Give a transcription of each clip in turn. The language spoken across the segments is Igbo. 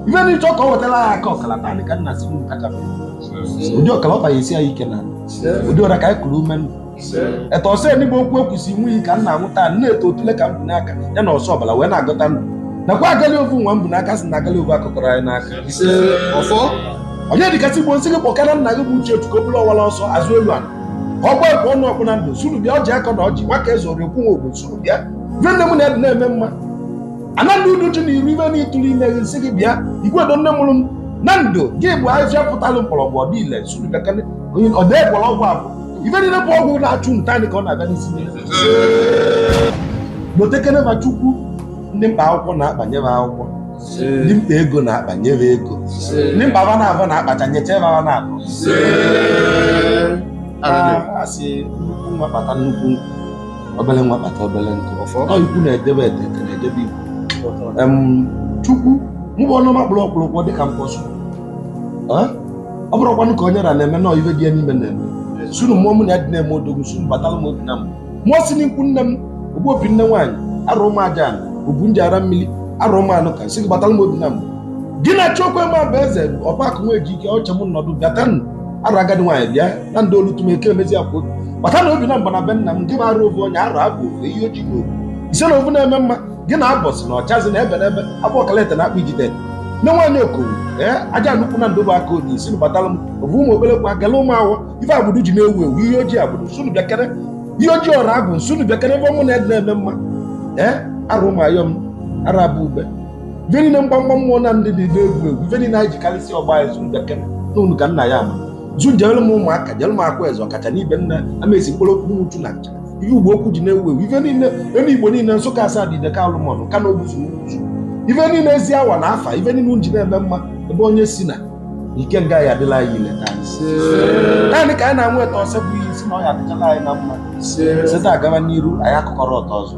ife na ịchọ ka ọ wetara ya aka ọkala naanị ka nna si m kacha mma. ụdị ọkala ọ baghị esi ya ike na ụdị ọra ka anyị kụrụ ume nụ etu ọsọ enigbe okwu ekwusi nwe iyi ka m na-aṅụ taa nne eto otule ka m bu n'aka ya na ọsọ ọbara wee na-agọta ndụ nakwa agali ovu nwa m bu n'aka si na agali ovu akụkọrọ anyị n'aka ọfọ onye dịkasị igbo m sị gị kpọkara nna gị bụ uche otu ka o bụrụ ọwara ọsọ azụ elu ala ka ọ gbaa ekwe ọnụ ọkpụ na ndụ sị unu bịa ọjị akọ na ọjị nwa ka eze ọrịa okwu nwa ogbo sị unu bịa ife nne m na-ede na-eme mma anadị udu ji na iru ibe na ịtụrụ ime gị m sị gị bịa igwe do nne mụrụ m na ndụ gị bụ ahịhịa pụtalụ mkpọrọgwụ ọdị ile sị unu bekele onye ọ dee gwọrọ ọgwụ abụ ife niile bụ ọgwụ na-achụ nta anyị ka ọ na-abịa n'isi niile gbotekene ma chukwu ndị mkpa akwụkwọ na-akpanye m akwụkwọ ndị mkpa ego na-akpanye m ego ndị mkpa ba na-abụ na-akpacha nyecha ebe ba na-abụ a sị nnukwu nwa kpata nnukwu nkụ obere nwa kpata obere nkụ ọ ikwu na-edebe ete na-edebe ikwu chukwu mụ bụ ọnụma kpụrụ ọkpụrụkwọ dịka mkpọsụ ọ bụrụkwanụ ka onye ra na-eme na ife dị ya n'ime na-eme sị unu mmụọ mụ na ya dị na-eme odogwu sị unu batara m obi na mbụ mmụọ si n'ikwu nne m ogbu opi nne nwaanyị arụ ụmụ aja obu nji ara mmiri arụ ụmụ anụ ka sị gị batara m obi na mbụ gị na chukwu eme bụ eze ọbakụ nwa eji ike ọcha m nọdụ bịatanụ arụ agadi nwaanyị bịa na ndị olu tụm eke emezi akwụ bata na obi na mgba na be nna m nke bụ arụ ovu onye arụ abụ ovu eyi oji na ovu ise na ovu na-eme mma gị na abọsị na ọchazi na ebe n'ebe abụ ọkalete na akpa ijide nne nwaanyị okowu ee aja nnukwu na ndobe aka onye isi batara m ovu ụmụ obere kwa gala ụmụ awọ ife agbụrụ ji na-ewu ewu ihe ojii agbụrụ sị unu bịakere ihe ojii ọrụ agwụ m sị unu bịakere ebe ọmụ na-ede na-eme mma ee arụ ụmụ ayọm arụ abụ ube ife niile mgbamgba mmụọ na ndị dị n'egwuregwu ife niile anyị jikarịsị ọgba anyị sị unu bịakere na unu ka nna ya ama zu jere m ụmụaka jere m akwa eze ọkacha n'ibe nna amaezi mkpụrụ okwu n'uchu na ncha ife ugbo okwu ji na-ewu ewu ife niile ebe igbo niile nsụka asadụ ideke alụmọna ọka na obuzu uzu ife niile ezi awa na afa ife niile m ji na-eme mma ebe onye si na ikenga ya adịla anyị ile taa naanị ka anyị na-anweta ọsọ bụ ihe isi na ọ ya adịchala anyị na mma si taa gaba n'iru anyị akụkọrọ ọtọ ọzọ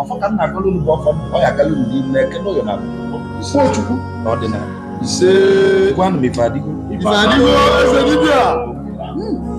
ọfọ ka m na-agọlụ unu bụ ọfọ ọ ya agala unu n'ime eke n'oye na nkwọ chukwu na ọdịnala ise gwanụ m ife adịgo Ife adịgo eze dibịa.